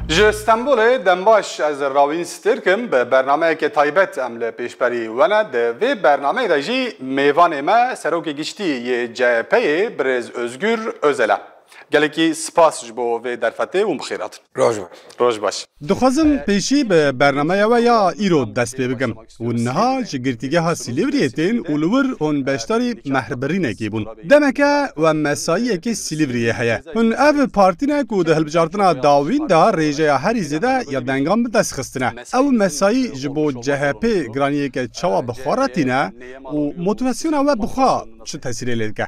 Ji Stenbolê dembaş ez rawîn stêrkim bi bernameyekê taybet em li pêşberî wene di vê bernameyê de jî mêvanê me serokê giştî yê CHP'ê birêz Ozgur Ozel e. Gelekî spas ji bo vê derfetê û bi xêr hatin. Roj baş. Roj baş. Dixwazim pêşî bi bernameya we ya îro dest pê bikim. Hûn niha ji Girtîgeha Sîlîvriyê tên û li wir hûn beşdarî mehribirînekî bûn. Demeke we mesaiyekê Sîlîvriyê heye. Hûn ev partî ne ku di hilbijartina dawîn de rêjeya herî zêde ya dengan bi dest xistine. Ew mesaî ji bo CHP'ê giraniyeke çawa bi xwe re tîne û motivasyona we bi xwe çi tesîrê lê dike?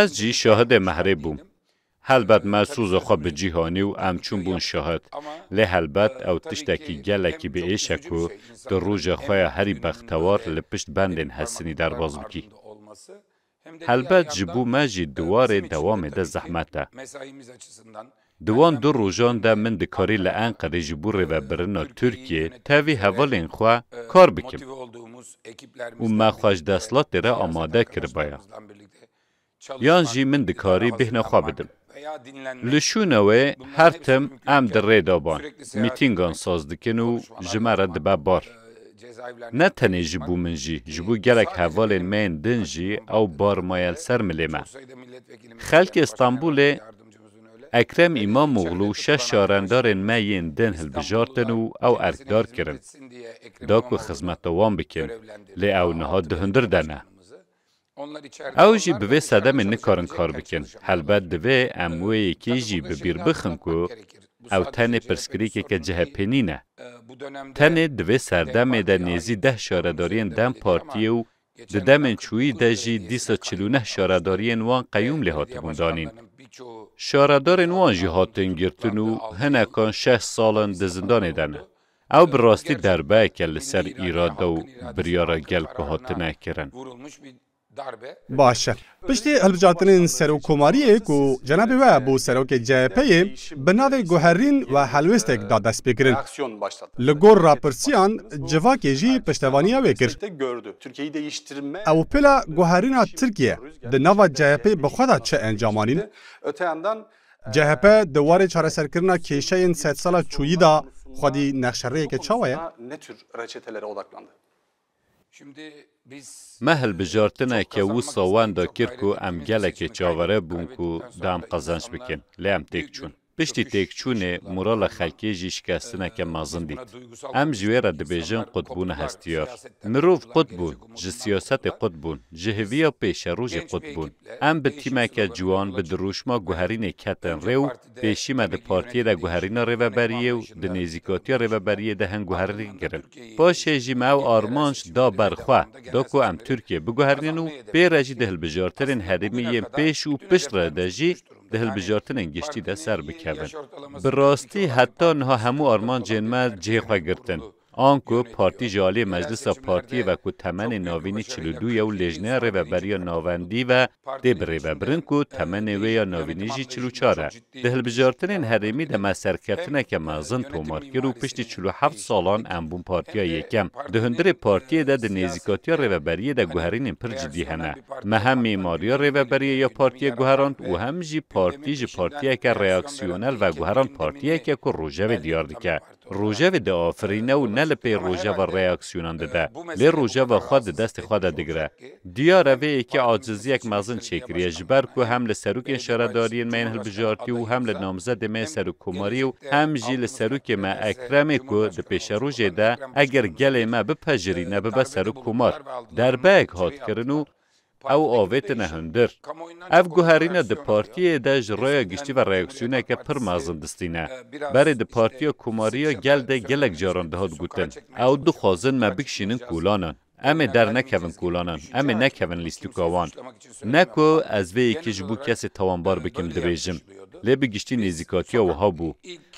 Ez jî şahidê mehrê bûm. Helbet me soza xwe bi cih anî û em çûn bûn şahid. Lê helbet ew tiştekî gelekî bi êş e ku tu roja xwe ya herî bextewar li pişt bendên Hesinî derbas bikî. Helbet ji bo me jî di warê dewamê de zehmet e. Di wan du rojan de min dikarî li Enqerê ji bo rêvebirina Tirkiyê tevî hevalên xwe kar bikim û me xwe ji desthilatê re amade kiribaya. Yan jî min dikarî bêhna xwe bidim. Li şûna wê her tim em di rê de ban, mîtîngan saz dikin û ji me re dibe bar. Ne tenê ji bo min jî, ji bo gelek hevalên me yên din jî ew bar maye li ser milê me. Xelkê Stenbolê Ekrem Îmamoglû şeş şarendarên me yên din hilbijartin û ew erkdar kirin. Da ku xizmet bi wan bikin, lê ew niha di hundir de ne. Ew jî bi vê sedemê nikarin kar bikin. Helbet divê em wê yekê jî bi bîr bixin ku ew tenê pirsgirêkeke CHP'ê nîne. Tenê di vê serdemê de nêzî deh şaredariyên dem Partiyê û Di demên çûyî de jî dîsa çil û neh şaredariyên wan qeyûm lê hatibûn danîn. Şaredarên wan jî hatin girtin û hinekan şeş sal in di zindanê de ne. Ew bi rastî derbeyek e li ser îrade û biryara gel ku hatine kirin. Baş e, Piştî hilbijartinên serokkomariyê ku cenabê we bû serokê CHP'ê bi navê guherîn we helwêstek da destpêkirin. Li gor rapirsiyan civakê jî piştevaniya wê kir. Ew pêla guherîna Tirkiye di nava CHP'ê bi xwe da çi encam anîn? CHP di warê çareserkirina kêşeyên sedsala çûyî da xwedî nexşerêyeke çawa ye? Me hilbijartine ke wisa wenda kir ku em gelekê çavere bûn ku di em qezanc bikin, lê em têk çûn. Piştî têkçûnê morala xelkê jî şikestineke mezin dît. Em ji wê re dibêjin qutbûna hestiyar. Mirov qut bûn, ji siyasetê qut bûn, ji hiviya pêşerojê qut bûn. Em bi tîmeke ciwan bi dirûşma guherînê ketin rê û Pêşî me di partiyê de guherîna rêveberiyê û di nêzîkatiya rêveberiyê de hin guherîn kirin. Paşê jî me ew armanc da ber xwe, da ku em Tirkiyê biguherînin û pê re jî di hilbijartinên herêmî yên pêş û pişt re de jî di hilbijartinên giştî de ser bikevin. Bi rastî heta niha hemû armancên me cihê xwe girtin. Anku partî ji aliyê meclisa partiyê ve ku temenê navînî çil û du ye û lêjneya rêveberiya navendî ve tê birêvebirin ku temenê wê ya navînî jî çil û çar e, di hilbijartinên herêmî de me serkeftineke mezin tomar kir û piştî çil û heft salan em bûn partiya yekem. Di hundirê partiyê de di nêzîkatiya rêveberiyê de guherînên pir cidî hene. Me hem mîmariya rêveberiyê ya partiyê guherand û hem jî partî ji partiyeke reaksiyonel veguherand partiyeke ku rojevê diyar dike. Rojevê diafirîne û ne li pê rojeva reaksiyonan dide, lê rojeva xwe di destê xwe de digire. Diyar e vê yekê aciziyek mezin çêkiriye ji ber ku hem li serokên şaredariyên me yên hilbijartî û hem li namzedê me yê serokkomarî û hem jî li serokê me Ekremê ku di pêşerojê de eger gelê me bipejirîne bibe serokkomar derbeyek hat kirin û Ew avêtine hundir. Ev guherîne di partiyê de ji raya giştî ve reaksiyoneke pir mezin distîne. Berê di Partiya Komarî ya Gel de gelek caran dihat gotin, Ew dixwazin me bikişînin kolanan. Em ê dernekevin kolanan, em ê nekevin lîstûka wan. Ne ku ez vê yekê ji bo kesê tawanbar bikim dibêjim, lê bi giştî nêzîkatiya wiha bû.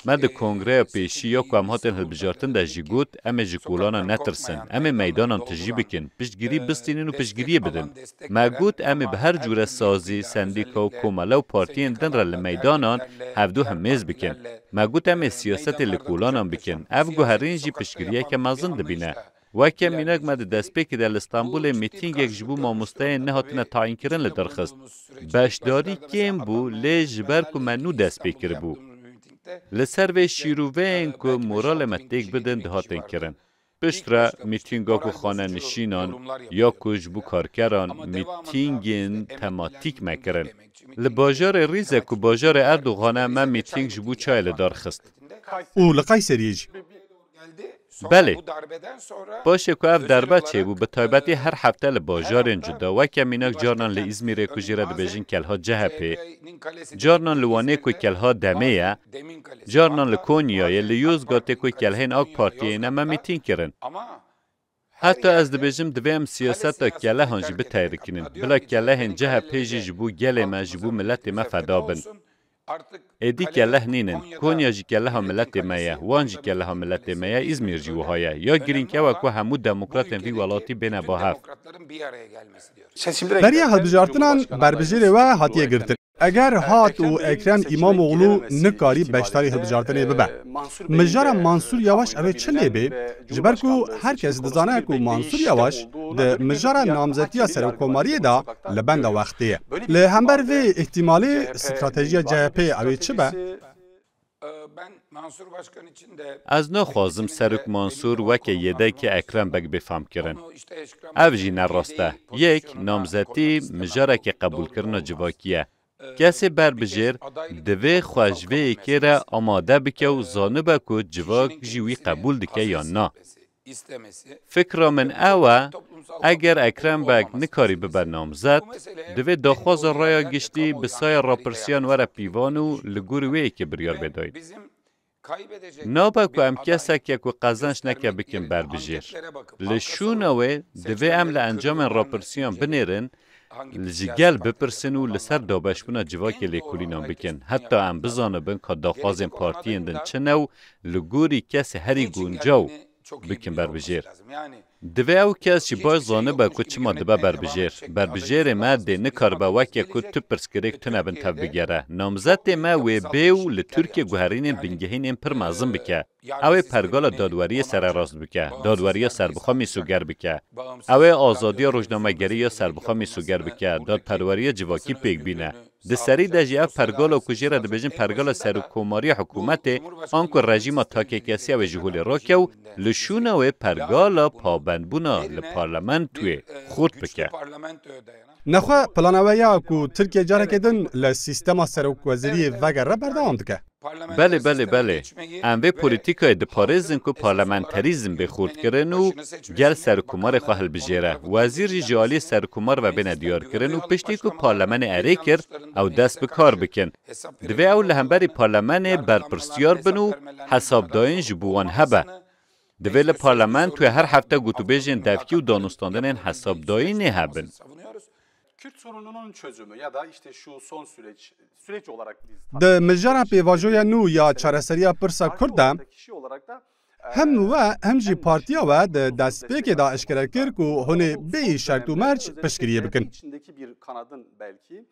Me di kongreya pêşî ya ku em hatin hilbijartin de jî got, Em ê ji kolanan netirsin. Em ê meydanan tijî bikin, piştgirî bistînin û piştgiriyê bidin. Me got, Em ê bi her cure sazî, sendîka û komele û partiyên din re li meydanan hevdu himêz bikin. Me got, Em ê siyasetê li kolanan bikin. Ev guherîn jî piştgiriyeke mezin dibîne. Weke mînak me di destpêkê de li Stenbolê mîtîngek ji bo mamosteyên nehatine tayînkirin li dir xist. Beşdarî kêm bû lê ji ber ku me nû dest pê kiribû. Li ser vê şîrûveyên ku moralê me têk bidin dihatin kirin. Piştre mîtînga ku xanenişînan ya ku ji bo karkeran mîtîngên tematîk me kirin. Li bajarê Rîze ku bajarê Erdogan e me mîtîng ji bo çayê li dar xist. Û li Qayseriyê jî. Belê. Paşê ku ev derbe çêbû bi taybetî her hefte li bajarên cuda weke mînak carnan li Îzmîrê ku jî re dibêjin Kelha Cehepê, carnan li Wanê ku Kelha Demê ye, carnan li Konyayê, li Yozgatê ku kelhên Ak Partiyê ne me mîtîng kirin. Heta ez dibêjim divê em siyaseta kelehan jî biteyrikînin. Bila kelehên CHP jî ji bo gelê me, ji bo miletê me feda bin. Êdî keleh nîn in. Konya jî keleha miletê me ye, Wan jî keleha miletê me ye, Îzmîr jî wiha ye. Ya girîng ew e ku hemû demokratên vî welatî bêne ba hev. Beriya hilbijartinan berbijêrê we hatiye girtin. Eger hat û Ekrem Îmamoglû nikarî beşdarî hilbijartinê bibe, mijara Mansûr Yawaş ev ê çi lê bê? Ji ber ku her kes dizane ku Mansûr Yawaş di mijara namzetiya serokkomariyê de li benda wextê ye. Li hember vê îhtîmalê stratejiya CHP'ê ew ê çi be? Ez naxwazim Serok Mansûr weke yêdekê Ekrem Beg bê famkirin. Ev jî ne rast e. Yek, namzetî mijarekî qebûlkirina civakî ye. Kesê berbijêr divê xwe ji vê yekê re amade bike û zanibe ku civak jî wî qebûl dike yan na. Fikra min ew e, eger Ekrem Beg nikarî bibe namzet, divê daxwaza raya giştî bi saya rapirsiyan were pîvan û li gorî wê yekê biryar bê dayîn. Nabe ku em keseke ku qezenç neke bikin berbijêr. Li şûna wê divê em li encamên rapirsiyan binêrin Ji gel bipirsin û li ser dabeşbûna civakê lêkolînan bikin. Heta em bizanibin ka daxwazên partiyên din çi ne û li gorî kesê herî guncaw bikin berbijêr. Divê ew kes jî baş zanibe ku çima dibe berbijêr. Berbijêrê me dê nikaribe weke ku tu pirsgirêk tune bin tevbigere. Namzetê me wê bê û li Tirkiye guherînên bingehîn ên pir mezin bike. Ew ê pergala dadweriyê sererast bike, dadweriya serbixwe mîsoger bike. Ew ê azadiya rojnamegerî ya serbixwe mîsoger bike, dadperweriya civakî pêk bîne. Di serî de jî ev pergala ku jê re dibêjin pergala serokkomariya hikûmetê anku rejîma takêkesî ew ê ji holê rakew li şûna wê pergala pabendbûna li parlementoyê xurt bike. Nexwe plana we ya ku Tirkiye careke din li sîstema serokwezîriyê vegere berdewam dike. Belê belê belê. Em vê polîtîkayê diparêzin ku parlamenterîzm bê xurtkirin û gel serokkomarê xwe hilbijêre. Wezîr jî ji aliyê serokkomar ve bêne diyarkirin û piştî ku parlemenê erê kir ew dest bi kar bikin. Divê ew li hemberî parlemenê berpirsyar bin û hesabdayîn ji bo wan hebe. Divê li parlamentoya her hefte gotûbêjên devkî û danûstandinên hesabdayînê hebin. Di mijara pêvajoya nû ya çareseriya pirsa kurd de hem we hem jî partiya we di destpêkê de eşkere kir ku hûnê bêyî şert û merc piştgiriyê bikin.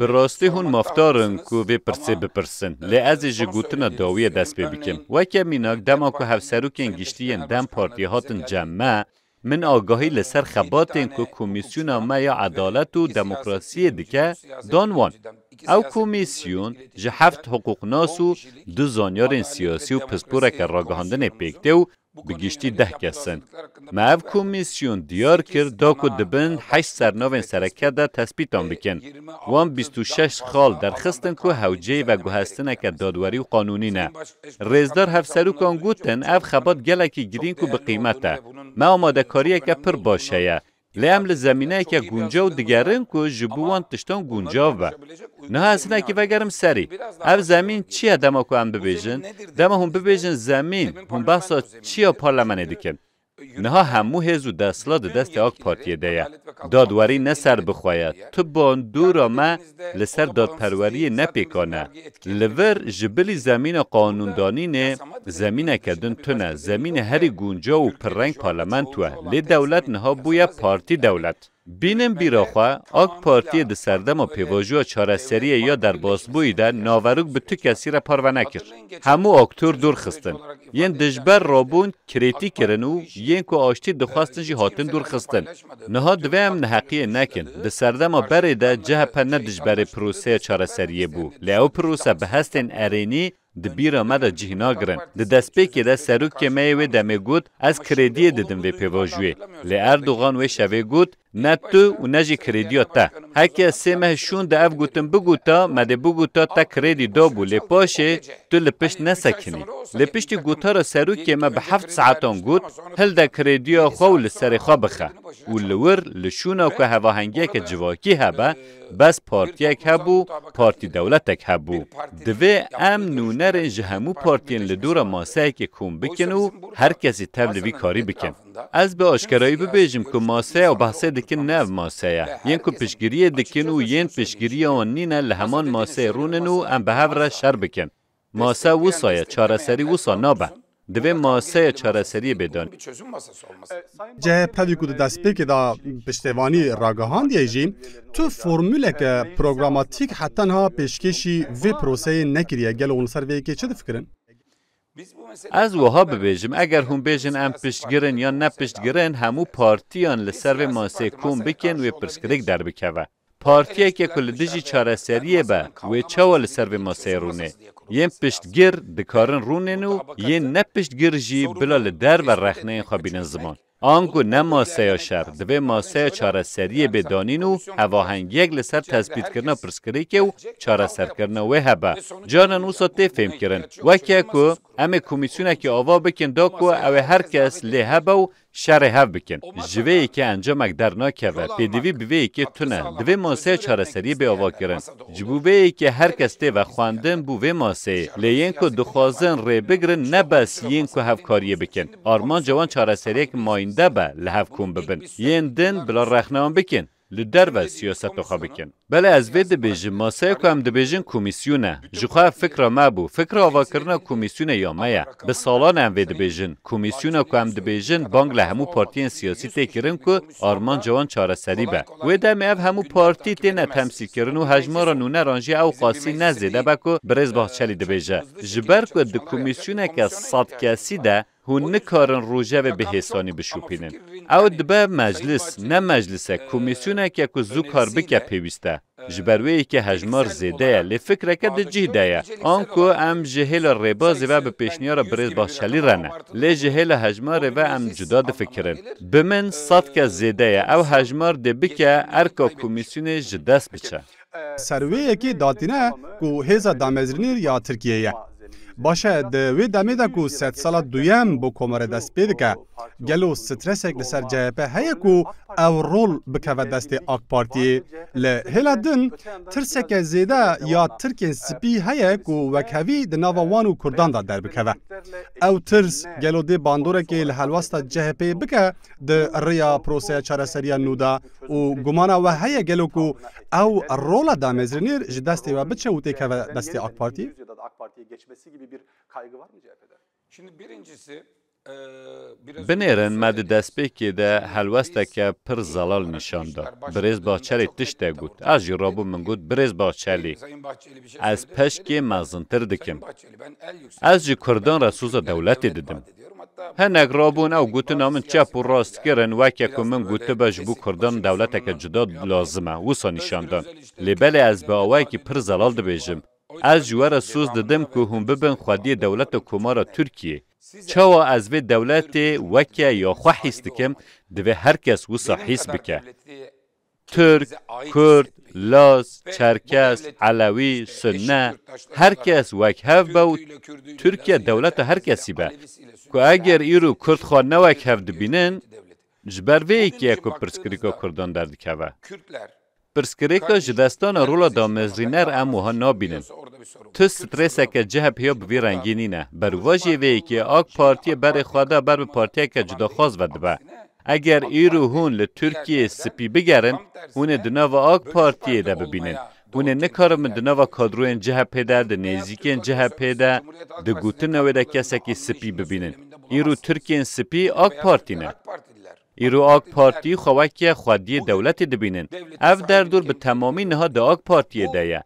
Bi rastî hûn mafdar in ku vê pirsê bipirsin, lê ez ê ji gotina dawiyê dest pê bikim. Weke mînak dema ku hevserokên giştî yên dem partiyê hatin cem me, min agahî li ser xebatên ku komîsyona me ya edalet û demokrasiyê dike, dan wan. Ew komîsyon ji heft hiqûqnas û du zanyarên siyasî û pisporeke ragihandinê pêk tê û bi giştî deh kes in. Me ev komîsyon diyar kir da ku dibin heşt sernavên sereke de tespîtan bikin. Wan bîst û şeş xal derxistin ku hewceyî veguhestineke dadwerî û qanûnî ne. Rêzdar hevserokan gotin ev xebat gelekî girîng û bi qîmet e. Me amadekariyeke pir baş heye. Lê em li zemîneyeke guncaw digerin ku ji bo wan tiştan guncav be. Niha ez hinekî vegerim serî. Ev zemîn çi ye dema ku em bibêjin? Dema hûn bibêjin zemîn, hûn behsa çi ya parlemenê dikin? Niha hemû hêz û desthilat di destê AK Partiyê de ye. Dadwerî ne serbixwe ye, tu bandora me li ser dadperweriyê ne pêkan e. Li vir ji bilî zemîna qanûndanînê zemîneke din tune, zemînê herî guncaw û pirreng parlamento e. Lê dewlet niha bûye partî dewlet. Bînin bîra xwe, Ak Partiyê di serdema pêvajoya çareseriyê ya derbasbûyî de naverok bi tu kesî re parve nekir. Hemû aktor dûr xistin. Yên dijber re bûn krîtîk kirin û yên ku aştî dixwestin jî hatin dûrxistin. Niha divê em neheqiyê nekin. Di serdema berê de chp ne dijberê proseya çareseriyê bû. Lê ew prose bi hestên erênî di bîra me de cih nagirin. Di destpêkê de serokê me yê wê demê got, Ez krêdiyê didim vê pêvajoyê. Lê Erdogan wê şevê got, Ne tu û ne jî krêdîya te. Heke sê meh şûn de ev gutin biguta, me dê biguta te krêdî dabû lê paşê tu li pişt nesekinî. Lê piştî gotara serokê me bi heft saetan got, hilde krêdîya xwe û li serê xwe bixe. Û li wir li şûna ku hevahengiyeke civakî hebe, bes partiyek hebû, partî dewletek hebû. Divê em nûnerên ji hemû partiyên li dora maseyekê kom bikin û her kesî tev li vî karî bikin. Ez bi aşkerayî bibêjim ku maseya û behsê dikin ne ev mase ye. Yên ku piştgiriyê dikin û yên piştgiriya wan nîne li heman maseyê rûn in û em bi hev re şer bikin. Mase wisa ye, çareserî wisa nabe. Divê maseya çareseriyê bê dan. CHP wî ku di destpêkê de piştevanî ragihandiye jî, tu formûleke programatîk heta niha pêşkêşî vê proseyê nekiriye. Gelo hûn li ser vê yekê çi difikirin? Ez wiha bibêjim, eger hûn bêjin em piştgir in yan ne piştgir in, hemû partiyan li ser vê masê kom bikin wê pirsgirêk derbikeve. Partiyeke ku li dijî çareseriyê be, wê çawa li ser vê maseyê rûnê? Yên piştgir dikarin rûnên û yên ne piştgir jî bila li derve rexneyên xwe bînin ziman. Anku ne maseya şer, divê maseya çareseriyê bê danîn û hevahengiyek li ser tespîtkirina pirsgirêkê û çareserkirina wê hebe. Carinan wisa tê fêmkirin, weke ku em ê komîsyonekê ava bikin da ku ew ê her kes lê hebe û şerê hev bikin. Ji vê yekê encamek dernakeve, pêdivî bi vê yekê tune. Divê maseya çareseriyê bê avakirin. Ji bo vê yekê her kes tê vexwendin bû vê maseyê. Lê yên ku dixwazin rê bigirin ne bes yên ku hevkariyê bikin. Armanca wan çareseriyek mayînde be li hev kom bibin. Yên din bila rexne wan bikin, li derve siyaseta xwe bikin. Belê ez vê dibêjim masaya ku em dibêjin komîsyon e. Ji xwe ev fikra me bû. Fikra avakirina komîsyonê ya me ye. Bi salan e em vê dibêjin. Komîsyona ku em dibêjin bang li hemû partiyên siyasî tê kirin ku Armanca wan çareserî be. Wê demê ev hemû partî têne temsîlkirin û hejmara nûneran jî ewqasî ne zêde be ku birêz Bahçelî dibêje. Ji ber ku di komîsyoneke sed kesî de hûn nikarin rojevê bi hêsanî bişopînin. Ew dibe meclis, ne meclise, komîsyoneke ku zû kar bike pêwîst e. Ji ber wê yekê hejmar zêde ye, lê fikreke di cih de ye, anku em ji hêla rêbazê ve bi pêşniyara birêz Bahçelî re ne, lê ji hêla hejmarê ve em cuda difikirin. Bi min sed kes zêde ye, ew hejmar dê bike erka komîsyonê ji dest biçe. Ser wê yekê datîne ku hêza damezrînê ya Tirkiyeyê ye. Baş e, di wê demê de ku sedsala duyem bo komare dest pê dike, gelo stresek li ser CHP heye ku ew rol bikeve destê AK Partiyê? Li hêla din tirseke zêde ya tirkên spî heye ku wekhevî di nava wan û kurdan de derbikeve. Ew tirs gelo dê bandorekê li helwesta CHP'ê bike di rêya proseya çareseriya nû de? û gumana we heye gelo ku ew rola damezrênêr ji destê we biçe û têkeve destê AK Partiyê? Binêrin me di destpêkê de helwesteke pir zelal nîşan da. Birêz Bahçelî tiştek got. Ez jî rabûm min got, Birêz Bahçelî, ez peşkê mezintir dikim. Ez ji Kurdan re soza dewletê didim. Hinek rabûn ew gotina min çep û rast kirin, weke ku min gotibe ji bo Kurdan dewleteke cuda lazim e, wisa nîşan dan. Lê belê ez bi awayekî pir zelal dibêjim, Ez ji we re soz didim ku hûn bibin xwediyê dewleta Komara Tirkiyê. Çawa ez vê dewletê weke ya xwe hîs dikim, divê her kes wisa hîs bike. Tirk, Kurd, Laz, Çerkes, Elewî, Sunne, her kes wekhev be û Tirkiye dewleta her kesî be. Ku eger îro Kurd xwe ne wekhev dibînin, ji ber vê yekê ye ku pirsgirêka Kurdan derdikeve. Pirsgirêka ji destana rola damezrîner em wiha nabînin. Tu strêseke CHP'ê ya bi vî rengî nîne. Berûvajiyê vê yekê, AK Partiyê berê xwe da ber bi partiyeke cudaxwaz ve dibe. Eger îr û hûn li Tirkiyeyê spî bigerin, hûn ê di nava ak Partiyê de bibînin. Hûn ê nikaribin di nava kadroyên CHP'ê de, di nêzîkên CHP'ê de, di gotina wê de kesekî spî bibînin. Îr û Tirkiyên spî ak Partî ne. Îr û ak Partî xwe weke xwediyê dewletê dibînin. Ev derdor bi temamî niha di ak Partiyê de ye.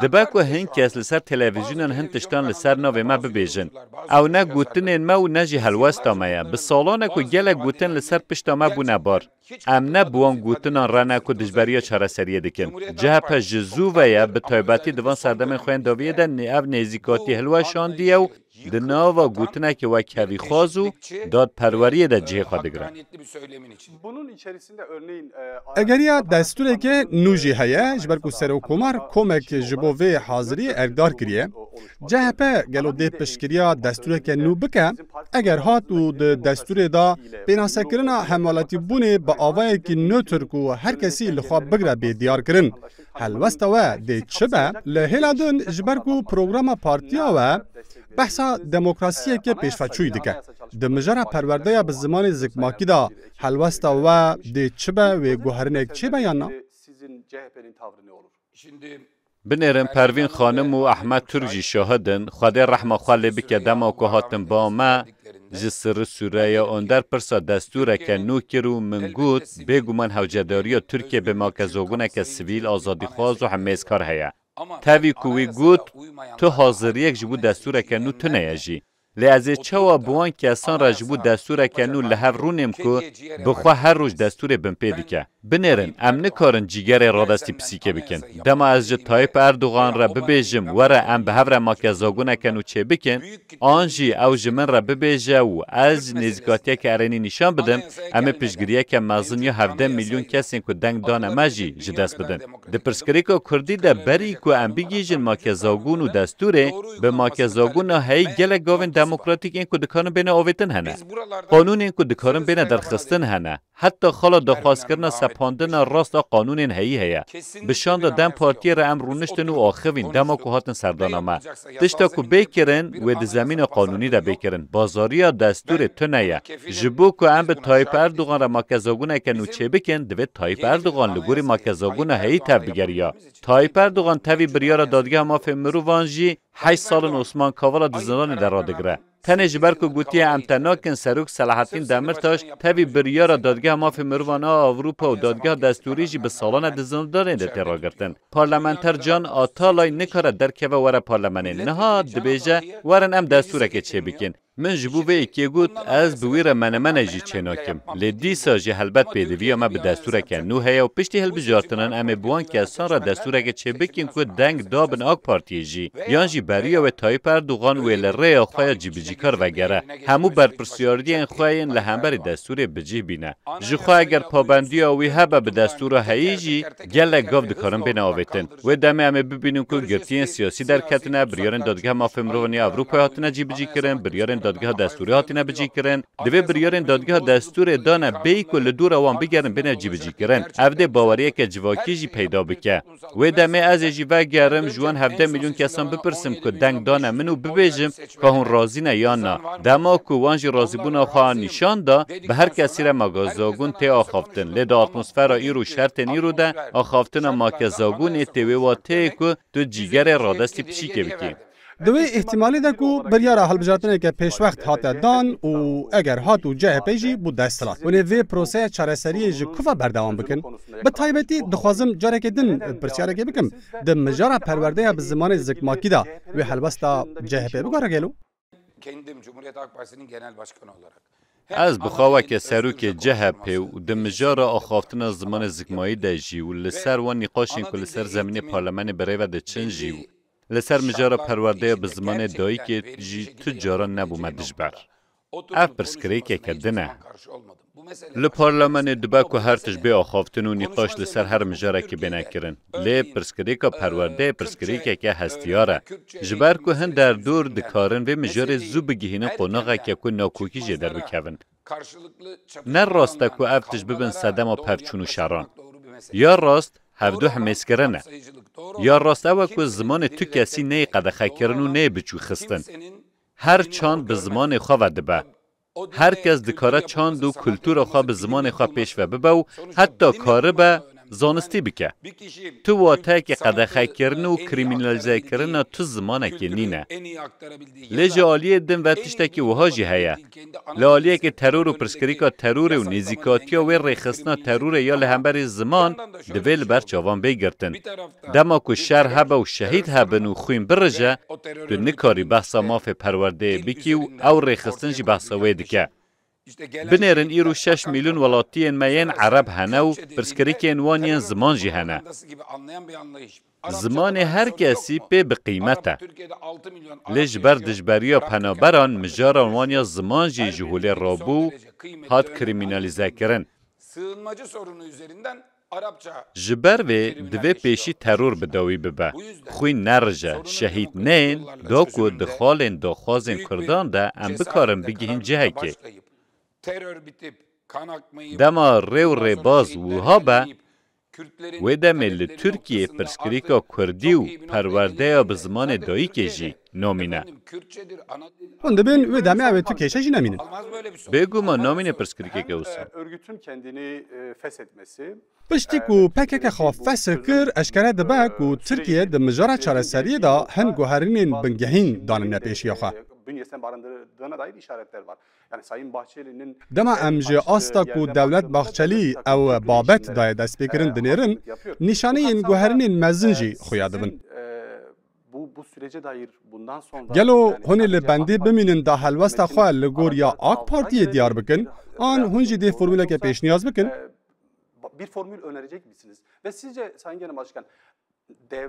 Dibe ku hin kes li ser televîzyonan hin tiştan li ser navê me bibêjin. Ew ne gotinên me û ne jî helwesta me ye. Bi salan e ku gelek gotin li ser pişta me bûne bar. Em ne bi wan gotinan re ne ku dijberiya çareseriyê dikin. CHP ji zû ve ye, bi taybetî di van serdemên xwe yên dawiyê de ev nêzîkatî hilweşandiye û di nava gotinekê wek hevîxwaz û dadperweriyê de cihê xwe digire. Egeriya destûreke nû jî heye ji ber ku Serokkomar Komek ji bo vê haziriyê erkdar kiriye. CHP gelo dê piştgiriya destûreke nû bike? Eger hat û di destûrê de pênasekirina hemwelatîbûnê bi avayekî nötr ku her kesî li xwe bigre bê diyarkirin, Helwesta we dê çi be? Li hêla din ji ber ku programa partiya we behsa demokrasiyeke pêşveçûyî dike. Di mijara perwerdeya bi zimanê zikmakî de helwesta we dê çi be wê guherinek çêbe yan na? Binêrin Pervîn Xanim û Ehmed Turk jî şahid in, Xwedê rehma xwe lê bike dema ku hatin ba me, Ji Sirri Sûreya Onder pirsa destûreke nû kir û min got, bêguman hewcedariya Tirkiyê bi makezoguneke sivîl, azadîxwaz û hemêzkar heye. Tevî ku wî got, Tu haziriyek ji bo destûreke nû tune ye jî. Lê ez ê çawa bi wan kesan re ji bo destûreke nû li hev rûnêm ku bi xwe her roj destûrê binpê dike? Binêrin, em nikarin cîgerê radestî pisîkê bikin. Dema ez ji Tayyîp Erdogan re bibêjim were em bi hev re make zagoneken û çêbikin, an jî ew ji min re bibêje û ez nêzîkatiyeke erênî nîşan bidim, em ê piştgiriyeke mezin ya hevdeh mîlyon kesên ku deng dane me jî ji dest bidin. Di pirsgirêka kurdî de berî ku em bigihîjin make zagon û destûrê, bi make zagon a heyî gelek gavên demokratîk ên ku dikarin bêne avêtin hene. Qanûnên ku dikarin bêne derxistin hene. Heta xala daxwazkirina sepandina rast a qanûnên heyî heye. Bi şanda dem partiyê re em rûniştin û axivîn dema ku hatin serdana me. Tişta ku bê kirin, wê di zemîna qanûnî de bê kirin. Bazariya destûrê tune ye. Ji bo ku em bi Tayyîp Erdogan re makezagoneke nû çêbikin, divê Tayyîp Erdogan li gorî makezagona heyî tevbigeriya. Tayyîp Erdogan tevî biryara Dadgeha Mafên Mirovan jî heşt sal in Osman Kavala di zindanê de radigire. Tenê ji ber ku gotiye em te nakin, Serok Selahattîn Demirtaş tevî biryara Dadgeha Mafê Mirovan a Ewropa û Dadgeha Destûrî jî bi salan e di zindanê de tê ragirtin. Parlamenter Can Atalay nikare derkeve were parlemenê. Niha dibêje werin em destûrekê çêbikîn. Min ji bo vê yekê got, ez bi wî re menemene jî çênakim. Lê dîsa jî helbet pêdiviya me bi destûreke nû heye û piştî hilbijartinan em ê bi wan kesan re destûreke çê bikin ku deng da bin ak Partiyê jî yan jî beriya wê Tayyîp Erdogan wê li rêya xwe ya cîbicîkar vegere hemû berpirsiyardiyên xwe yên li hemberî destûrê bicîh bîne. Jixwe eger pabendiya wî hebe bi destûra heyî jî Gelek gav dikarin bêne avêtin. Wê demê em ê bibînin ku girtiyên siyasî derketine, biryarên Dadgeha Mafên Mirovan ya Ewropayê hatine cîbicîkirin, biryarên Dadgeha Destûrê hatine bicîkirin. Divê biryarên Dadgeha Destûrê dane bêyî ku li dora wan bigerin bêne cîbicîkirin. Ev dê baweriyeke civakî jî peyda bike. Wê demê ez ê jî vegerim ji wan hevdeh milyon kesan bipirsim ku deng dane min û bibêjim, Ka hûn razî ne yan na, dema ku wan jî razîbûna xwe an nîşan da, bi her kesî re make Zagûn tê axaftin. Lê di atmosfera îro û şertên îro de axaftina make Zagûnê tê wê wateyê ku tu cîgerê radestî pişîkê bikî. Di wê îhtîmalê de ku biryara hilbijartineke pêşwext hate dan û eger hat û CHP'ê jî bû desthilat, hûn ê vê proseya çareseriyê ji ku ve berdewam bikin? Bi taybetî dixwazim carekê din pirsiyarekê bikim, Di mijara perwerdeya bi zimanê zikmakî de wê helwesta CHP'ê bigore gelo? Ez bi xwe weke serokê CHP'ê û di mijara axaftina zimanê zikmayî de jî û li ser wan nîqaşên ku li ser zemînê parlemenê bi rê ve diçin jî û li ser mijara perwerdeya bi zimanê dayikê jî tu caran nebûme dijber. Ev pirsgirêkeke din e. Li parlemenê dibe ku her tişt bê axaftin û nîqaş li ser her mijarekê bêne kirin. Lê pirsgirêka perwerdeyê pirsgirêkeke hestiyar e. Ji ber ku hin derdor dikarin vê mijarê zû bigihînin qonaxeke ku nakokî jê derbikevin. Ne rast e ku ev tişt bibin sedema pevçûn û şeran. Ya rast hevdu himêzkirin e. Ya rast ew e ku zimanê tu kesî neyê qedexekirin û neyê biçûkxistin. Her çand bi zimanê xwe ve dibe. Her kes dikare çand û kultura xwe bi zimanê xwe pêş ve bibe û heta karibe zanistî bike. Tu wateyekî qedexekirin û krîmînelîzekirina tu zimanekê nîne. Lê ji aliyê din ve tiştekî wiha jî heye. Li aliyekê teror û pirsgirîka terorê û nêzîkatiya wê rêxistina terorê ya li hemberî ziman divê li ber çavan bê girtin. Dema ku şer hebe û şehîd hebin û xwîn birije, tu nikarî behsa mafê perwerdeyê bikî û ew rêxistin jî behsa wê dike. Binêrin îro şeş mîlyon welatiyên me yên ereb hene û pirsgirikên wan yên ziman jî hene. Zimanê her kesî pê bi qîmet e. Lê ji ber dijberiya penaberan mijaran wan ya ziman jî ji holê rabû û hat krîmînalîzekirin. Ji ber vê divê pêşî teror bi dawî bibe, xwîn nerije, şehîd neyên, da ku di xalên daxwazên kurdan de em bikarin bigihîn cihekê. Dema rê û rêbaz wiha be, wê demê li Tirkiyeyê pirsgirêka kurdî û perwerdeya bi zimanê dayikê jî, Nomîne. Hûn dibin wê demê ew ê tu kêşe jî nemînin. Bêguman nomîne pirsgirîkeke wisa. Piştî ku pkk xwe fesh kir eşkere dibe ku Tirkiye di mijara çareseriyê de hin guherînên bingehîn danine pêşiya xwe. Dema em ji asta ku Dewlet Bahçelî ew babet daye destpêkirin dinêrin, nîşaneyên guherînên mezin jî xuya dibin. Gelo hûn ê li bendê bimînin da helwesta xwe li gor ya ak Partiyê diyar bikin an hûn jî dê formûleke pêşniyaz bikin?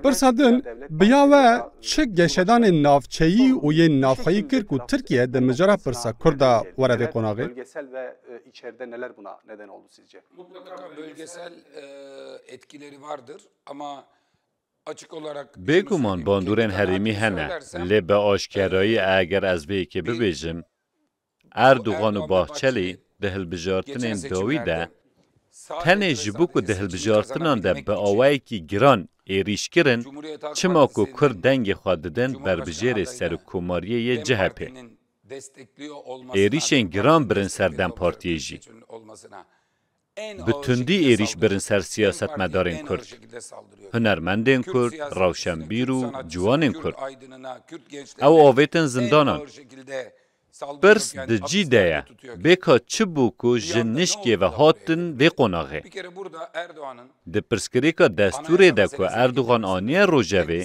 Pirsa din bi ya we çi geşedanên navçeyî û yên navxweyî kir ku Tirkiye di mijara pirsa kurd de were vê qonaxê? Bêguman bandorên herêmî hene, lê bi aşkerayî eger ez vê yekê bibêjim, Erdogan û Bahçelî di hilbijartinên dawî de tenê ji bo ku di hilbijartinan de bi awayekî giran êrîş kirin, çima ku Kurd dengê xwe didin berbijêrê serokkomariyê yê CHP'ê. Êrîşên giran birin ser DEM Partiyê jî. bi tundî êrîş birin ser siyasetmedarên Kurd, hunermendên Kurd, rewşenbîr û ciwanên Kurd. Ew avêtin zindanan. Pirs di cî de ye, bêka çi bû ku ji nişkê ve hatin vê qonaxê? Di pirsgirêka destûrê de ku Erdogan aniye rojevê,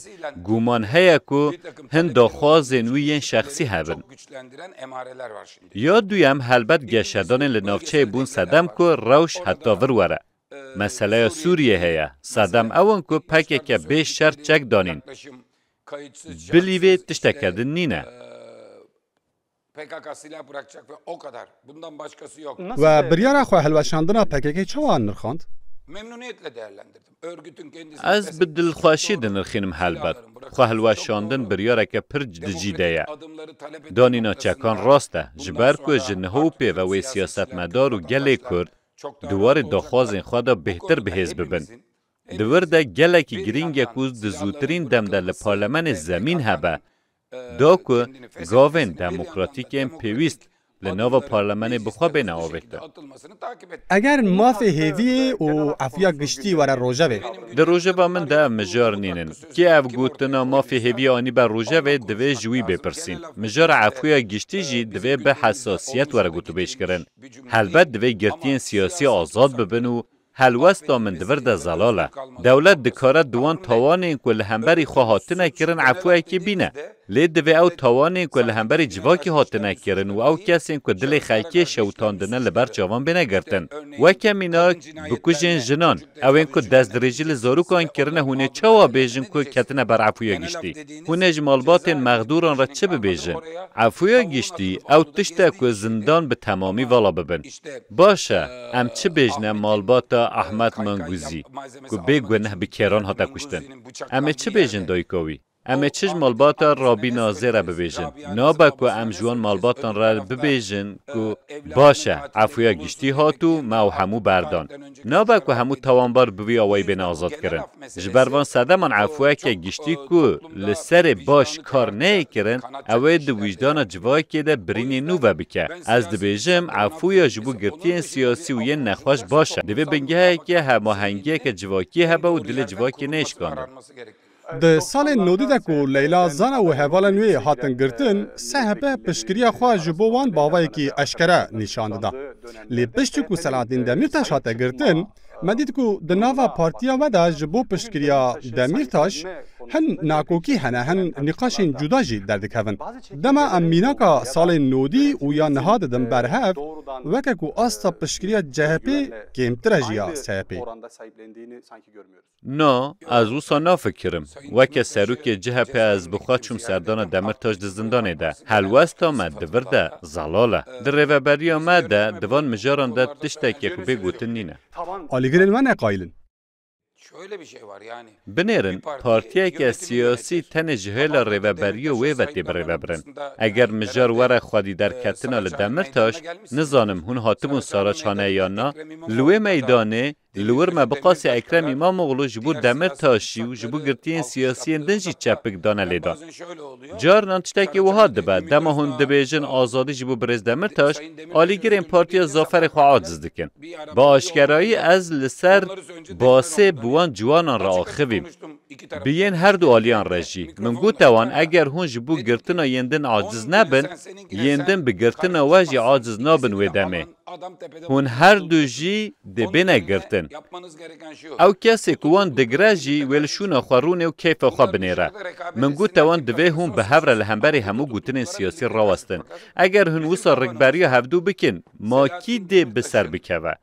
gûman heye ku hin daxwazên wî yên şexsî hebin. Ya duyem helbet geşedanên li navçeyê bûn sedem ku rewş heta vir were. Meseleya Sûriyê heye, sedem ew in ku pkk bê şert çek danîn. Bilî vê tişteke din nîne. PKK silah bırakacak ve o kadar. Bundan başkası yok. We biryara xwe hilweşandina PKK'ê çawa nirxand? Memnuniyetle değerlendirdim. Örgütün kendisini Ez bi dilxweşî dinirxînim helbet. Xwehilweşandin biryareke pir cidicî de ye. Danîna çekan rast e, ji ber ku ji niha û pêve wê siyasetmedar û gelê Kurd di warê daxwazên xwe de bêhtir bi hêz bibin. Di wir de gelekî girîng e ku di zûtirîn dem de li parlemenê zemîn hebe Da ku gavên demokratîk ên pêwîst li nava parlemenê bi xwe bêne avêtin. Eger mafê hêviyê û efiya giştî were rojevê. Di rojeva min de ev mijar nînin. Kê ev gotina mafê hêviyê anîbe rojevê divê ji wî bêpirsîn. Mijara efiya giştî jî divê bi hesasiyet were gotûbêjkirin. Helbet divê girtiyên siyasî azad bibin û Helwesta min di vir de zelal e. Dewlet dikare di wan tawanên ku li hemberî xwe hatine kirin efûyekê bîne. Lê divê ew tawanên ku li hemberî civakî hatine kirin û ew kesên ku dilê xelkê şewitandine li ber çavan bêne girtin. Weke mînak, bikujên jinan, ewên ku destdirêjî li zarûkan kirine hûn ê çawa bêjin ku ketine ber efûya giştî? Hûn ê ji malbatên mexdûran re çi bibêjin? Efûya giştî, ew tişt e ku zindan bi temamî vala bibin. Baş e, em çi bêjne malbata Ahmet Manguzî ku bê guneh bi kêran hate kuştin. Em ê çi bêjin dayika wî? Em ê çi ji malbata Rabî Nazê re bibêjin? Nabe ku em ji wan malbatan re bibêjin ku baş e, efûya giştî hat û me ew hemû berdan. Nabe ku hemû tawanbar bi vî awayî bên azadkirin. Ji ber van sedeman efûyeke giştî ku li serê baş kar neyê kirin, ew ê di wîjdana civakê de birînê nû vebike. Ez dibêjim efûya ji bo girtiyên siyasî û yên nexweş baş e. Divê bingeheke hemahengiyeke civakî hebe û dilê civakê neyê şikandin. Di salên nodî de ku Leyla Zana û hevalên wê hatin girtin, SHP piştgiriya xwe ji bo wan bi avayekî eşkere nîşan dida. Lê piştî ku Selahattin Demîrtaş hate girtin, me dît ku di nava partiya me de ji bo piştgiriya Demîrtaş hin nakokî hene, hin nîqaşên cuda jî derdikevin. Dema em mînaka salên nodî û ya niha didin ber hev, weke ku asta piştgiriya CHP'ê kêmtir e ji ya SHP'ê. Na, ez wisa nafikirim. Weke serokê CHP'ê ez bi xwe çûm serdana Demirtaş di zindanê de. Helwesta me di vir de zelal e. Di rêveberiya me de di van mijaran de tiştekê ku bê gotin nîne. Alîgirên me ne qayîl in. Binêrin partiyeke siyasî tenê ji hêla rêveberiya wê ve tê birêvebirin. Eger mijar were xwedîderketina li Demirtaş, nizanim hûn hatibûn Saraçhane yan na, li wê meydanê Li wir me bi qasî Ekrem Îmamoglû ji bo Demirtaşî û ji bo girtiyên siyasiyên din jî çepik dane lêdan. Carinan tiştekî wiha dibe, dema hûn dibêjin azadî ji bo birêz Demirtaş, alîgirên Partiya Zaferê xwe aciz dikin. Bi aşkerayî ez li ser basê bi wan ciwanan re axivîm. Bi yên her du aliyan re jî. Min gote wan eger hûn ji bo girtina yên din aciz nebin, yên din bi girtina we jî aciz nabin wê demê. Hûn her du jî dê bêne girtin. Ew kesê ku wan digire jî wê li şûna xwe rûnê û keyfa xwe binêre. Min got te wan divê hûn bi hev re li hemberî hemû gotinên siyasî rawestin. Eger hûn wisa rikberiya hevdu bikin, ma kî dê bi ser bikeve?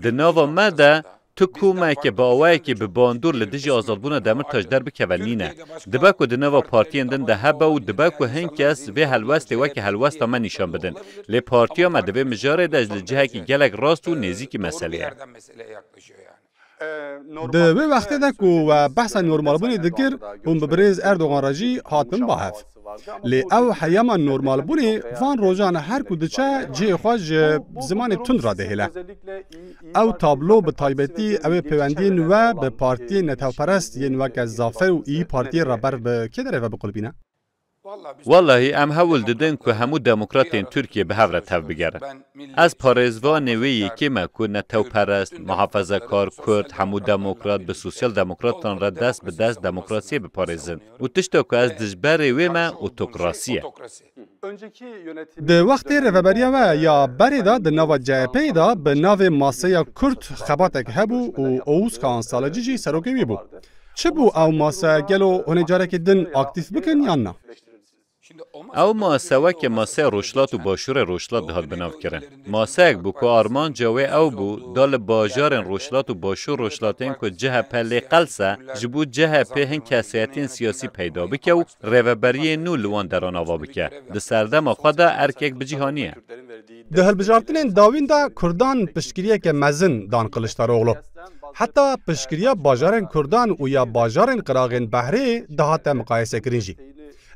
Di nava me de Tu komeke bi awayekî bi bandor li dijî azadbûna Demirtaş derbikeve nîne. Dibe ku di nava partiyên din de hebe û dibe ku hin kes vê helwestê weke helwesta me nîşan bidin. Lê partiya me di vê mijarê de ji li cihekî gelek rast û nêzîkî meselê ye. Di wê wextê de ku we behsa normalbûnê dikir, hûn bi birêz Erdogan re jî hatin ba hev. Lê ew heyama normalbûnê van rojan her ku diçe cihê xwe ji zimanê tund re dihêle. Ew tablo bi taybetî ew ê pêwendiyên we bi partiyên netewperest yên weke Zafer û Îyî Partiyê re ber bi kê derê ve biqulpîne? Wellahî em hewl didin ku hemû demokratên Tirkiyê bi hev re tevbigerin. Ez parêzvanê wê yekê me ku netewperest, muhafezekar, kurd, hemû demokrat bi sosyal demokratan re dest bi dest demokrasiyê biparêzin. Û tişta ku ez dijberê wê me otokrasî ye. Di wextê rêveberiya we ya berê de di nava CHP'ê de bi navê Maseya Kurd xebatek hebû û Oğuz Kaan Saleci jî serokê wî bû. Çi bû ew mase gelo hûn ê carekê din aktîf bikin yan na? Ew masewekê maseya Rojhilat û Başûrê Rojhilat dihat binavkirin. Maseyek bû ku armanca wê ew bû da li bajarên Rojhilat û Başûr Rojhilatên ku chp lê qels e, ji bo chp hin kesayetiyên siyasî peyda bike û rêveberiyê nû li wan deran ava bike. Di serdema xwe de erkek bi cîhanî ye. Di hilbijartinên dawîn de kurdan piştgiriyeke mezin dan Kiliçdaroglu. Heta piştgiriya bajarên kurdan û ya bajarên qiraxên behrê dihate miqayesekirin jî.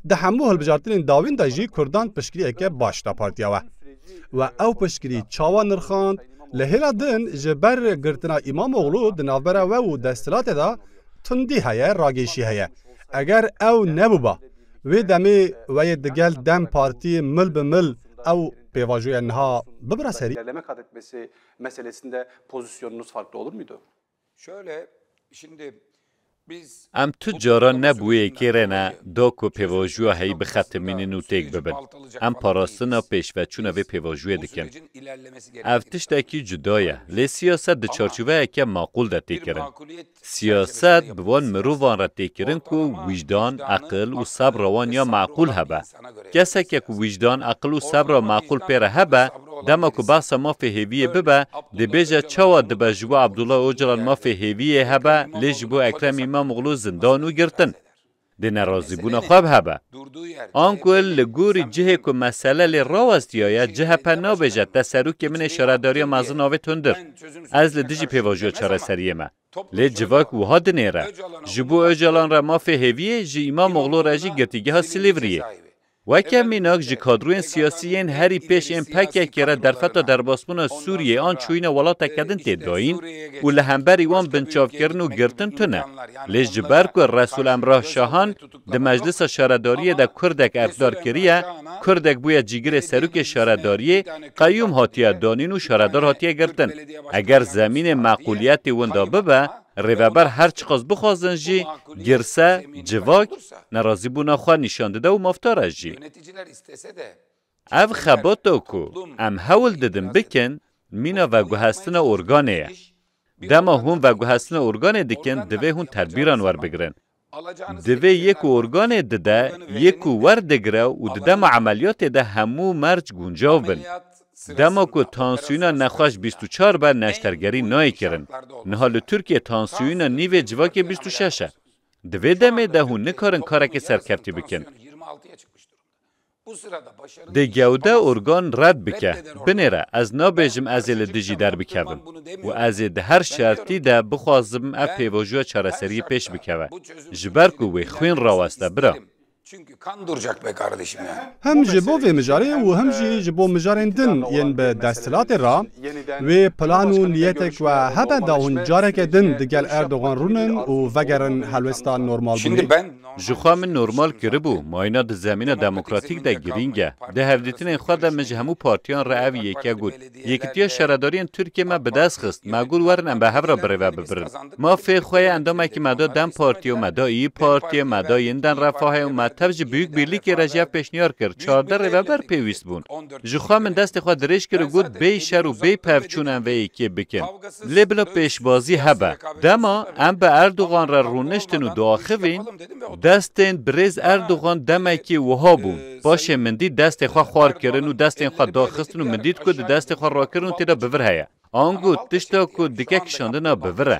Di hemû hilbijartinên dawîn de jî kurdan piştgiriyeke baş da partiya we. We ew piştgirî çawa nirxand? Li hêla din ji ber girtina Îmamoglû di navbera we û desthilatê de tundî heye, ragêşî heye. Eger ew nebûba, wê demê we yê digel dem Partî mil bi mil ew pêvajoya niha bibira serî. Em tu caran ne bi wê yekê re ne da ku pêvajoya heyî bixetimînin û têk bibin. Em parastina pêşveçûna vê pêvajoyê dikin. Ev tiştekî cuda ye. Lê siyaset di çarçoveyeke maqûl de tê kirin. Siyaset bi van mirovan re tê kirin ku wîjdan, eqil û sebra wan ya meqûl hebe. Keseke ku wîjdan, aqil û sebra maqûl pê re hebe, dema ku behsa mafê hêviyê bibe, dibêje çawa dibe ji bo Abdullah Ocalan mafê hêviyê hebe lê ji bo Ekrem Îmamoglû zindan û girtin? Dê nerazîbûna xwe bi hebe. Anku li gorî cihê ku mesele lê rawestiyaye, chp nabêje te serokê min ê şaredariya mezin avêt hundir. Ez li dijî pêvajoya çareseriyê me. Lê civak wiha dinêre, Ji bo Ocalan re mafê hêvî yê, ji Îmamoglû re jî girtîgeha Silîvriyê. Weke mînak ji kadroyên siyasî yên herî pêş ên PKK'ê re derfeta derbasbûna Sûriyeyê an çûyîna welateke din tê dayîn û li hemberî wan binçavkirin û girtin tune. Lê ji ber ku Resûl Emrah Şahan, Di meclisa şaredariyê de kurdek erkdar kiriye, kurdek bûye cîgirê serokê şaredariyê, qeyûm hatiye danîn û şaredar hatiye girtin. Eger zemînê meqûliyetê winda bibe, rêveber her çiqas bixwazin jî girse, civak, nerazîbûna xwe nîşan dide û mafdar e jî. Ev xebata ku em hewl didin bikin mîna veguhestina organê ye. Dema hûn veguhestina organê dikin divê hûn tedbîran werbigirin. Divê yê ku organê dide yê ku werdigire û di dema emeliyatê de hemû merc guncav bin. Dema ku tansiyona nexweş bîst û çar be neştergerî nayê kirin. Niha li Tirkiyê tansiyona nîvê civakê bîst û şeş e. Di vê demê de hûn nikarin karekê serkeftî bikin. Di gew de organ red bike, binêre ez nabêjim ez ê li dijî derbikevim û ez ê di her şertî de bixwazim ev pêvajoya çareseriyê pêş bikeve ji ber ku wê xwên raweste bira. Hem ji bo vê mijarê û hem jî ji bo mijarên din yên bi desthilatê re wê plan û niyetek we hebe da hûn careke din digel Erdogan rûnin û vegerin helwesta normalbûnê. Jixwe min normal kiribû, mayîna di zemîna demokratîk de girîng e. Di hevdîtinên xwe de min ji hemû partiyan re ev yeke got, Yekitiya Şaredariyên Tirkiyê me bi dest xist, me got werin em bi hev re birêve bibirin. Ma fê xwe yê endamekî me da dem Partiyê û me da îyi Partiyê, me da Yiniden Refahê û me tev ji Biyûk Bîrlîkê re jî ev pêşniyar kir, çardeh rêveber pêwîst bûn. Ji xwe min destê xwe dirêj kir û got bêyî şer û bêyî pevçûn em vê yekê bikin. Lê bila pêşbazî hebe. Dema em bi Erdogan re rûniştin û diaxivîn, destên birêz Erdogan demekê wiha bûn, paşê min dît destê xwe xwar kirin û destên xwe daxistin û min dît ku di destê xwe rakirin û tê de bi vir heye. Ango tişta ku dike kişandina bi vir e.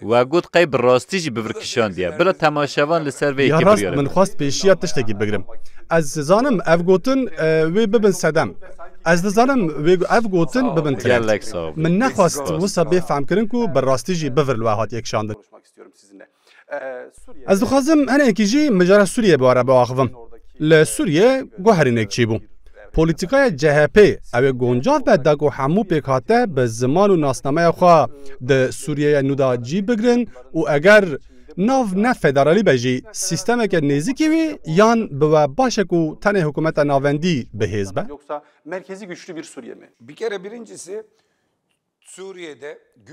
We got qey bi rastî jî bibir kişandiye. Bila temaşevan li ser vê yekê biryar e. Ya rast min xwest pêşiya tiştekî bigirim. Ez dizanim ev gotin wê bibin sedem. Ez dizanim wê ev gotin bibin trend. Gelek sax bî. Min nexwest wisa bê fehmkirin ku bi rastî jî bivir li we hatiye kişandin. Ez dixwazim hinekî jî mijara Sûriyê bibare biaxivim. Li Sûriyê guherînek çêbû. Polîtîkaya CHP'ê ew ê goncav be da ku hemû pêkhate bi ziman û nasnameya xwe di Sûriyeyê nû de cî bigirin û eger nav ne federalî be jî sîstemeke nêzîkî wî yan bi we baş e ku tenê hikûmeta navendî bi hêz be.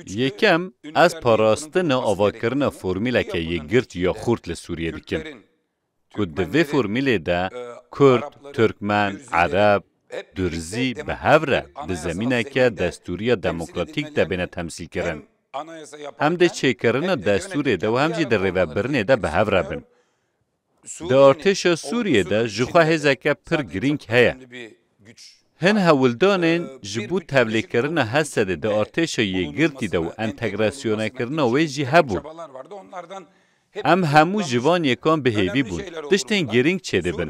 Yekem, ez parastina avakirina formîleke yekgirt ya xurt li Sûriyê dikim. ku di vê formîlê de kurd, tirkmen, ereb, durzî bi hev re di zemîneke destûriya demokratîk de bêne temsîlkirin, hem di çêkirina destûrê de û hem jî di rêvebirinê de bi hev re bin. Di artêşa Sûriyê de jixwe hêzeke pir girîng heye. Hin hewldanên ji bo tevlêkirina Hesedê di artêşa yekgirtî de û entegrasyonekirina wê jî hebûn. Em hemû ji van yekan bi hêvî bûn tiştên girîng çêdibin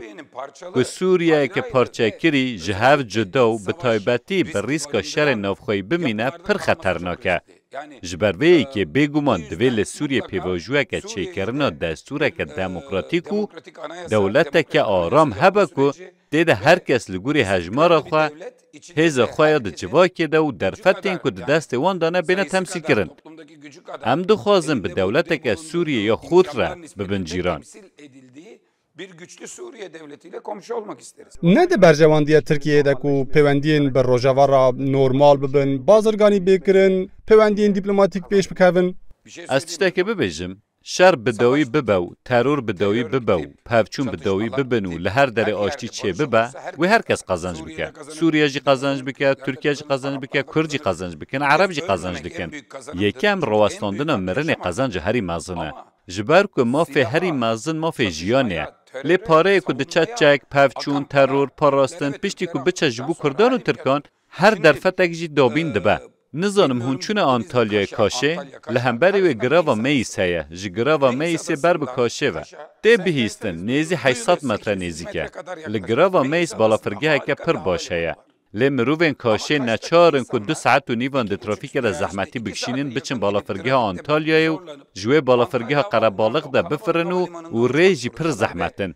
ku Sûriyeyeke parçekirî ji hev cuda û bi taybetî bi rîska şerên navxweyî bimîne pir xeternak e. Ji ber vê yekê bêguman divê li Sûriyê pêvajoyeke çêkirina destûreke demokratîk û dewleteke aram hebe ku Tê de her kes li gorî hejmara xwe, hêza xwe ya di civakê de û derfetên ku di destê wan de ne bêne temsîlkirin. Em dixwazin bi dewleteke Sûriyê ya xurt re bibin cîran. Ne di berjewandiya Tirkiyeyê de ku pêwendiyên bi Rojava re normal bibin, bazirganî bê kirin, pêwendiyên dîplomatîk pêş bikevin. Ez tiştekê bibêjim. Şer bi dawî bibe û teror bi dawî bibe û pevçûn bi dawî bibin û li her derê aştî çêbibe, wê her kes qezenc bike. Sûriye jî qezenc bike, Tirkiye jî qezenc bike, Kurd jî qezenc bikin, Ereb jî qezenc dikin. Yekem, rawestandina mirinê qezenca herî mezin e. Ji ber ku mafê herî mezin mafê jiyanê ye. Lê pareyê ku diçe çek, pevçûn, teror, parastin, piştî ku biçe ji bo Kurdan û Tirkan, Her derfetek jî dabîn dibe. Nizanim hûn çûne Antalyayê Kaşê? Li hemberî wê girava Meyis heye, ji girava Meyisê ber bi Kaşê ve. Tê bihîstin nêzî heşt sed metre nêzîk e. Li girava Meyis balafirgeheke pir baş heye. Lê mirovên Kaşê neçar in ku du saet û nîvan di trafîkê de zehmetî bikişînin biçin balafirgeha Antalyayê û ji wê balafirgeha Qerebalix de bifirin û û rê jî pir zehmet in.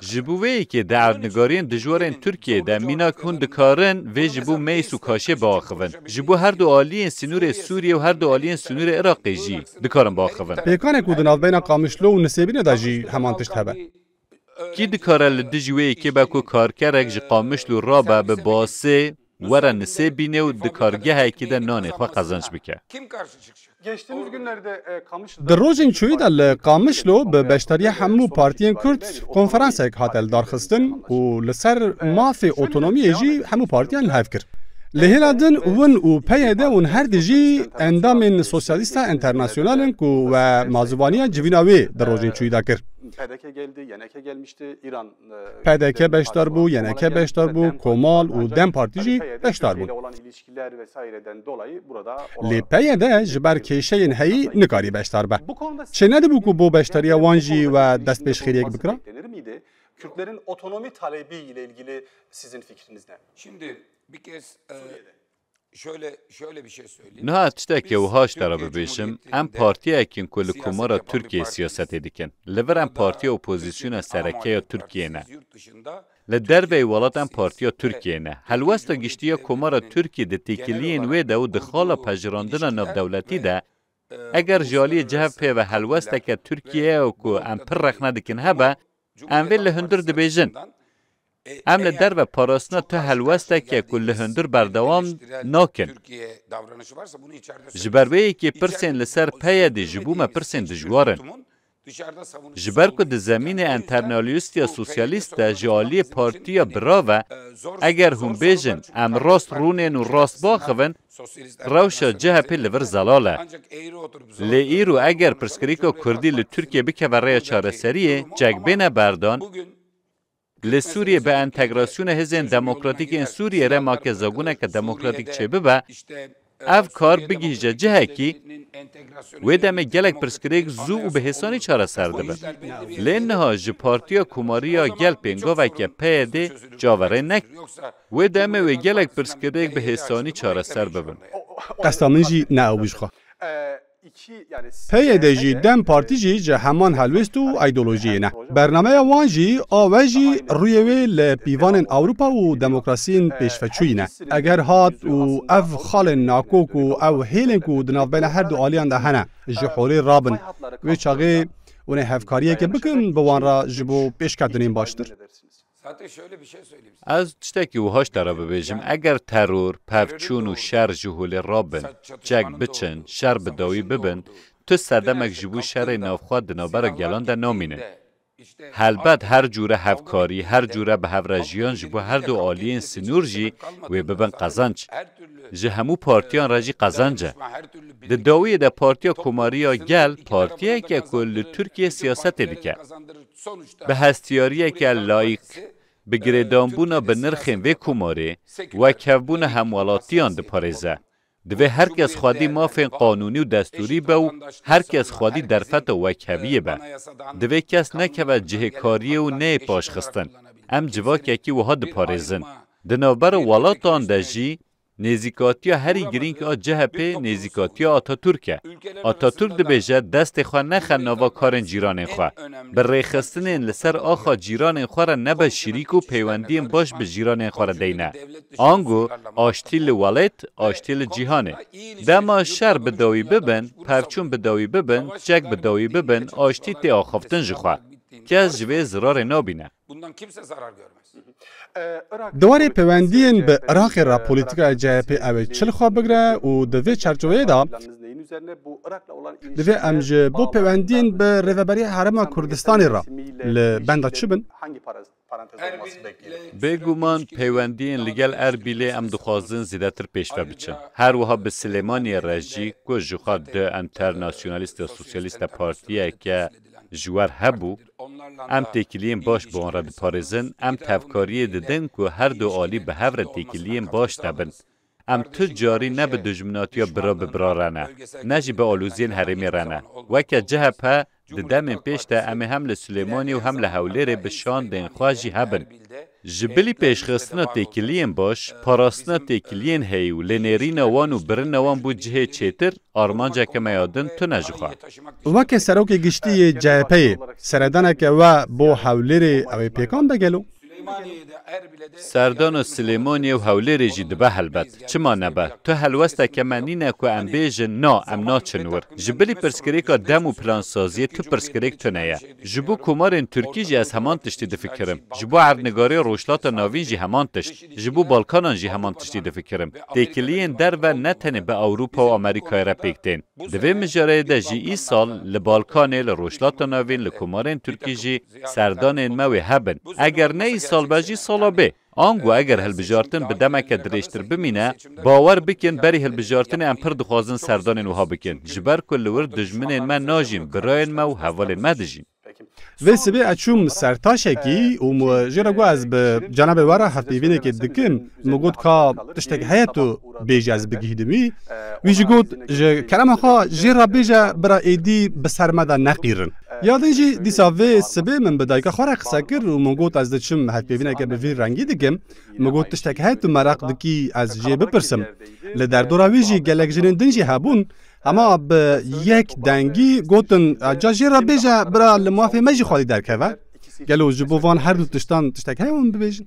Ji bo vê yekê di erdnigariyên dijwar ên Tirkiyeyê de mînak hûn dikarin vê ji bo mêz û kaşê biaxivin. Ji bo her du aliyên sînorê Sûriyê û her du aliyên sînorê Iraqê jî dikarin biaxivin. Pêkanê ku di navbeyna Qamişlo û Nisêbînê de jî heman tişt hebe. Kî dikare li dijî wê yekê be ku karkerek ji Qamişlo rabe bi basê were nisê bîne û di kargehekî de nanê xwe qezenç bike. Di rojên çûyî de li Qamişlo bi beşdariya hemû partiyên Kurd konferansek hate lidarxistin û li ser mafê otonomiyê jî hemû partiyan li hev kir. Li hêla din win û PYD ûn her di jî endamên Sosyalîsta Enternasyonal in ku we mazûvaniya civîna wê di rojên çûyî de kir. PDK beşdar bû, YNK beşdar bû, Komal û dem Partî jî beşdar bûn. Lê PYD ji ber kêşeyên heyî nikarî beşdar be. Çê nedibû ku bo beşdariya wan jî we destpêşxêriyek bikira? Niha ez tiştekî wiha ji te re bibêjim, em partiyek in ku li Komara Tirkiyeyê siyasetê dikin. Li vir em partiya opozîsyona sereke ya Tirkiyeyê ne. Li derveyî welat em partiya Tirkiyeyê ne. Helwesta giştî ya Komara Tirkiyê di têkiliyên wê de û di xala pejirandina navdewletî de eger ji aliyê cihev pê ve helwesteke Tirkiyeyê ku em pir rexne dikin hebe, Em vê li hundir dibêjin. Em li derve parastina tu helwesteke ku li hundir berdewam nakin. Ji ber vê yekê pirsên li ser PYD'ê ji bo me pirsên dijwar in. Ji ber ku di zemînê enternalyustiya sosyalîst de ji aliyê partiya birav e, eger hûn bêjin em rast rûnên û rast biaxivin, Rewşa CHP'ê li vir zelal e. Lê îro eger pirsgirêka Kurdî li Tirkiyeyê bikeve rêya çareseriyê, çek bêne berdan, li Sûriyeyê bi entegrasyona hêzên demokratîk ên Sûriyeyê re make zabûneke demokratîk çêbibe, ev kar bigihîje cihekî, wê demê gelek pirsgirêk zû û bi hêsanî çareser dibin. Lê niha ji Partiya Komarî ya Gel pêngaveke PYD'ê çaverê neke. Wê demê wê gelek pirsgirêk bi hêsanî çareser bibin. Qesta min jî ne ew bû ji xwe. PYD jî dem Partî jî ji heman helwêst û îdeolojiyê ne. Bernameya wan jî a we jî rûyê wê li pîvanên Ewropa û demokrasiyên pêşveçûyî ne. Eger hat û ev xalên nakok û ew hêlên ku di navbeyna her du aliyan de hene ji holê rabin wê çaxê hûn ê hevkariyekê bikin bi wan re ji bo pêşketinên baştir. Ez tiştekî wiha ji te re bibêjim, eger teror, pevçûn û şer ji holê re bin, çek biçin, şer bi dawî bibin, tu sedemek ji bo şerê navxwe di navbera gelan de namînin. Helbet her cûre hevkarî, her cûre bi hev re jiyan ji bo her du aliyên sinûr jî wê bibin qezenc. Ji hemû partiyan re jî qezenc e. Di dawiyê de Partiya Komarî ya Gel partiyek e ku li Tirkiyeyê siyasetê dike. Bi hestiyariyeke layîk, bi girêdanbûna bi nirxên vê komarê, wekhevbûna hemwelatiyan diparêze. Divê her kes xwedî mafên qanûnî û destûrî be û her kes xwedî derfeta wekheviyê be. Divê kes nekeve cihê kariyê û neyê paşxistin. Em civakekî wiha diparêzin. Di navbera welatan de jî Nêzîkatiya herî girîng a CHP'ê nêzîkatiya Ataturk e. Ataturk dibêje destê xwe nexe nava karên cîranên xwe. Bi rêxistinên li ser axa cîranên xwe re nebe şirîk û peywendiyên baş bi jîranên xwe re deyne. Ango aştî li welêt, aştî li cîhanê. Dema şer bi dawî bibin, pevçûn bi dawî bibin, çek bi dawî bibin aştî tê axaftin ji xwe. Kes ji vê zirarê nabîne. Bundan kimse zarar görmez. Di warê pêwendiyên bi Iraqê re polîtîkaya CHP'ê ew ê çil xwe bigire û di vê çerçoveyê de divê em ji bo pêwendiyên bi Rêveberiya Herêma Kurdistanê re li benda çi bin? Bêguman pêwendiyên li gel Erbîlê em dixwazin zêdetir pêşve biçin. Her wiha bi Silêmaniyê re jî ku jixwe du enternasyonalîst ya sosyalîst de partiyeke ji wer hebû, Em têkiliyên baş bi wan re diparêzin, em tevkariyê didin ku her du alî bi hev re têkiliyên baş hebin. Em tu carî ne bi dijminatiya bira bi bira re ne, ne jî bi aloziyên herêmê re ne. Weke CHP, di demên pêş de em ê hem li Silêmaniyê û hem li Hewlêrê bi şandên xwe jî hebin. Ji bilî pêşxistina têkiliyên baş, parastina têkiliyên heyî û lênêrîna wan û birina wan bû cihê çêtir, armanceke me ya din tune ji xwe. Weke Serokê Giştî yê CHP'ê, seredaneke we bo Hewlêrê ew ê pêkan be gelo? Serdana Silêmaniyê û Hewlêrê jî dibe helbet. Çima nebe? Tu helwesteke me nîne ku em bêjin, na, em naçin wir. Ji bilî pirsgirêka dem û plansaziyê tu pirsgirêk tune ye. Ji bo komarên tirkî jî ez heman tiştî difikirim. Ji bo erdnigarê Rojhilata Navîn jî heman tişt. Ji bo Balkanan jî heman tiştî difikirim. Têkiliyên derve ne tenê bi Ewropa û Amerîkayê re pêk tên. Di vê mijareyê de jî îsal li Balkanê, li Rojhilata Navîn, li komarên tirkî jî serdanên me wê hebin. Eger ne îsal be jî sala bê. Ango eger hilbijartin bi demeke dirêjtir bimîne, bawer bikin berî hilbijartinê em pir dixwazin serdanên wiha bikin, ji ber ku li wir dijminên me najîn, birayên me û hevalên me dijîn. Vê sibê ez çûm ser taşekî û jê re got ez bi cenabê we re hevpeyvînekê dikim, min got ka tiştek heye tu Bêje ez bigihîdimî, wî jî got ji kelama xwe jê re bêje bira êdî bi ser me de neqîrin. Ya din jî dîsa vê sibê min bi dayika xwe re qise kir û min got ez diçim hevpêvîneke bi vî rengî dikim. Min got tiştek heye tu meraq dikî ez jê bipirsim. Li derdora wî jî gelek jinên din jî hebûn. Hema bi yek dengî gotin ca jê re bêje bira li mafê me jî xwedî derkeve. Gelo ji bo van her du tiştan tiştek heye min bibêjin?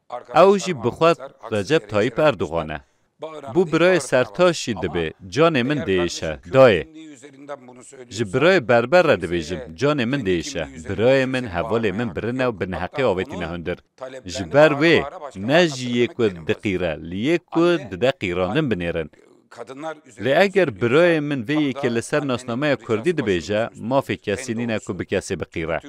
Ew jî bi xwe Recep Tayîp Erdogan e. Bo birayê Sertaşî dibê canê min diêşe, dayê. Ji birayê berber re dibêjim canê min diêşe, birayê min, hevalê min birine û bi neheqê avêtîne hundir. Ji ber wê ne jî yê ku diqîre li yê ku dide qîrandin binêrin. Lê eger birayê min vê yekê li ser nasnameya kurdî dibêje, mafê kesî nîne ku bi kesê biqîre.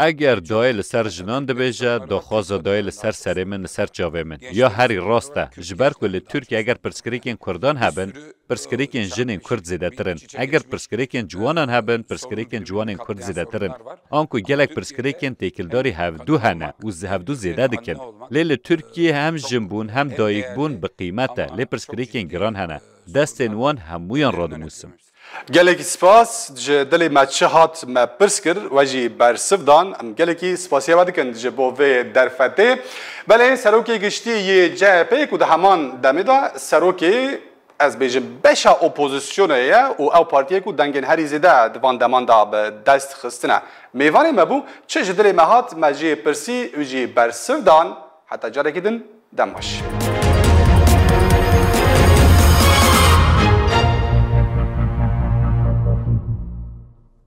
Eger dayê li ser jinan dibêje, daxwaza dayê li ser serê min, li ser çavê min. Ya herî rast e. Ji ber ku li Tirkiyê eger pirsgirêkên kurdan hebin, pirsgirêkên jinên kurd zêdetir in. Eger pirsgirêkên ciwanan hebin, pirsgirêkên ciwanên kurd zêdetir in. Anku gelek pirsgirêkên têkildarî hevdu hene û hevdu zêde dikin. Lê li Tirkiyê hem jinbûn hem dayikbûn bi qîmet e, lê pirsgirêkên giran hene. Destên wan hemûyan radinûsim. Gelekî spas, ji dilê me çi hat me pirs kir, we jî bersiv dan. Em gelekî spasiyê we dikin ji bo vê derfetê. Belê Serokê Giştî yê CHP'ê ku di heman demê de Serokê ez bêjim beşa opozisyonê ye û ew partiyê ku dengên herî zêde di van deman de bi dest xistine mêvanê me bû, çi ji dilê me hat me jê pirsî û jî bersiv dan, heta carekî din dem baş.